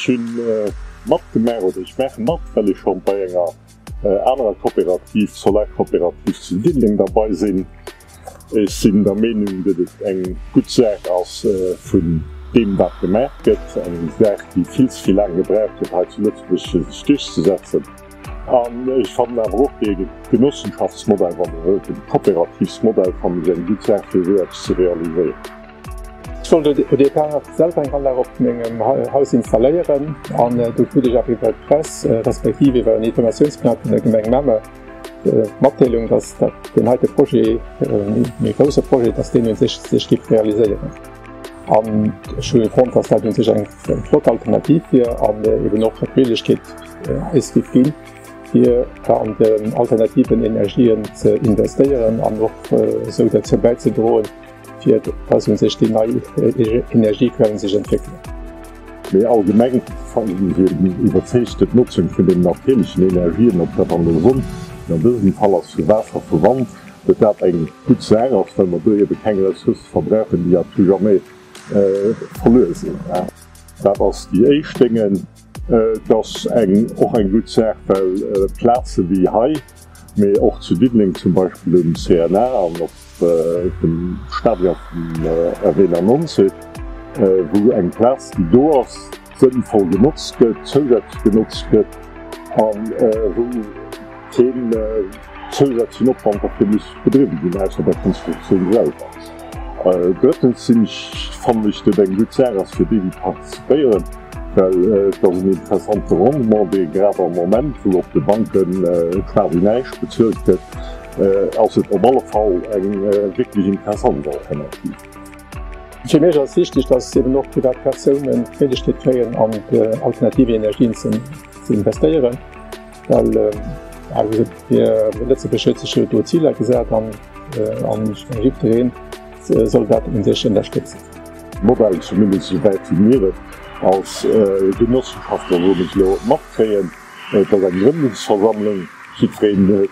Ech hunn matgemaach, oder ech maache mat, well ech schonn bei enger anerer Coopérative, Solarcoopérative zu Diddeleng derbei sinn. Ech sinn der Meenung, datt et eng gutt Saach ass vun deem wat gemaach gëtt, eng Saach déi vill ze vill laang gebraucht huet hei zu Lëtzebuerg fir sech duerchzesetzen. An ech fannen awer och dee Genossenschaftsmodell, wann ee wëllt, dee Coopérativsmodell, fannen ech eng gutt Saach, fir esou eppes ze realiséieren. Ech wollt au départ selwer eng Anlag op mengem Haus installéieren an du krut ech awer iwwer d'Press, respektiv iwwer en Informatiounsblat vun der Gemeng Mamer d'Matdeelung, dass dat deen heite Projet, dee méi grousse Projet, dass deen u sech sech géif realiséieren. An ech hu fonnt, dass dat un sech eng flott Alternativ wier an eben och fir d'Méiglechkeet eis géif ginn, fir an alternative Energien ze investéieren an och esou derzou bäizedroen, fir dass un sech déi nei Energiequellen sech entwéckelen. Méi allgemeng fannen ech eben déi iwwerzeegten Notzung vun den natierlechen Energien, ob dat an der Sonn, an dësem Fall ass vu Waasser, vu Wand, Datt dat eng gutt Saach ass, well mer do ebe keng Ressource verbrauchen, déi à tout jamais verluer sinn. Dat ass déi éischt Déngen. Et ass och eng gutt Saach, well Plaze wéi hei, mee och zu Diddeleng zum Beispill um CNA an op dem Stadion vum RW 99, wou eng Plaz, déi do ass, sënnvoll genotzt gëtt, zousätzlech genotzt gëtt a wou keen zousätzlechen Opwand derfir muss bedriwwen ginn, ausser der Konstruktioun selwer. Drëttens sinn ech, fannen ech, datt et eng gutt Saach ass, fir déi, déi participéieren, well et ass en interessante Rendement, dee grad am Moment, wou op de Banke quasi näischt bezuelt gëtt, ass et op alle Fall eng wierklech interessant Alternativ. Fir mech ass wichteg, dass eben och privat Persounen d'Méiglechkeet kréien an alternativ Energien ze investéieren, well Lëtzebuerg huet sech jo do Ziler gesat an jiddwereen soll dat u sech ënnerstëtzen. D'Modell, zumindest esou wäit wéi mir et als Genossenschaft elo matkréien, et ass eng Grëndungsversammlung, jiddwereen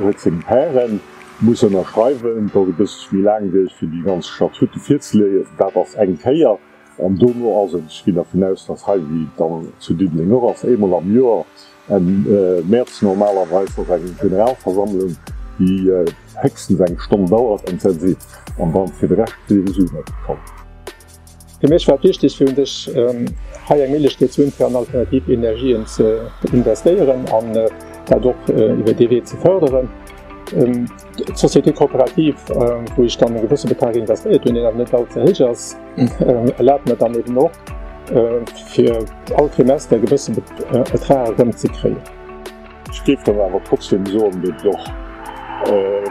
huet seng Pairen. muss ënnerschreiwen, datt e bësseg méi laang wier fir déi ganz Statute virzeléien, dat ass eng Kéier, an dono ass et, ech ginn dervun aus, datt hei, wéi et dann zu Diddeleng och ass, eemol am Joer, Enn Mäerz normalerweis, ass eng Generalversammlung, déi héchstens eng Stonn dauert, an d'Säll seet an dann fir de Rescht souwisou net. Fir mech war et wichteg fir un dech hei eng Méiglechkeet ze hunn fir an alternativ Energien ze investéieren an dat och iwwer dee Wee ze fërderen. D'Société coopérative wou ech dann e gewësse Betrag investéiert hunn, deen awer net all ze héich ass, erlaabt mer dann eben och fir all Trimester e gewësse Betrag erëm ze kréien. Ech géif dann awer trotzdem soen, datt et och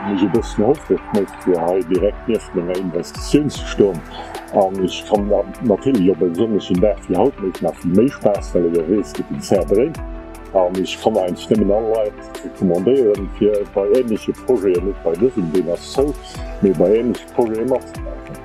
mech e bëssen houfreg mécht, fir hei direkt nieft menger Investitioun ze stoen. An ech kann natierlech op e sonnegen Dag wéi haut mécht nach vill méi Spaass, well der weess, gëtt den Zär dréint. An ech kann eigentlech nëmmen all Leit recommandéieren, fir bei ähnleche Projeten, net bei dësem, deen ass zou, mee bei ähnleche Projete matzemaachen.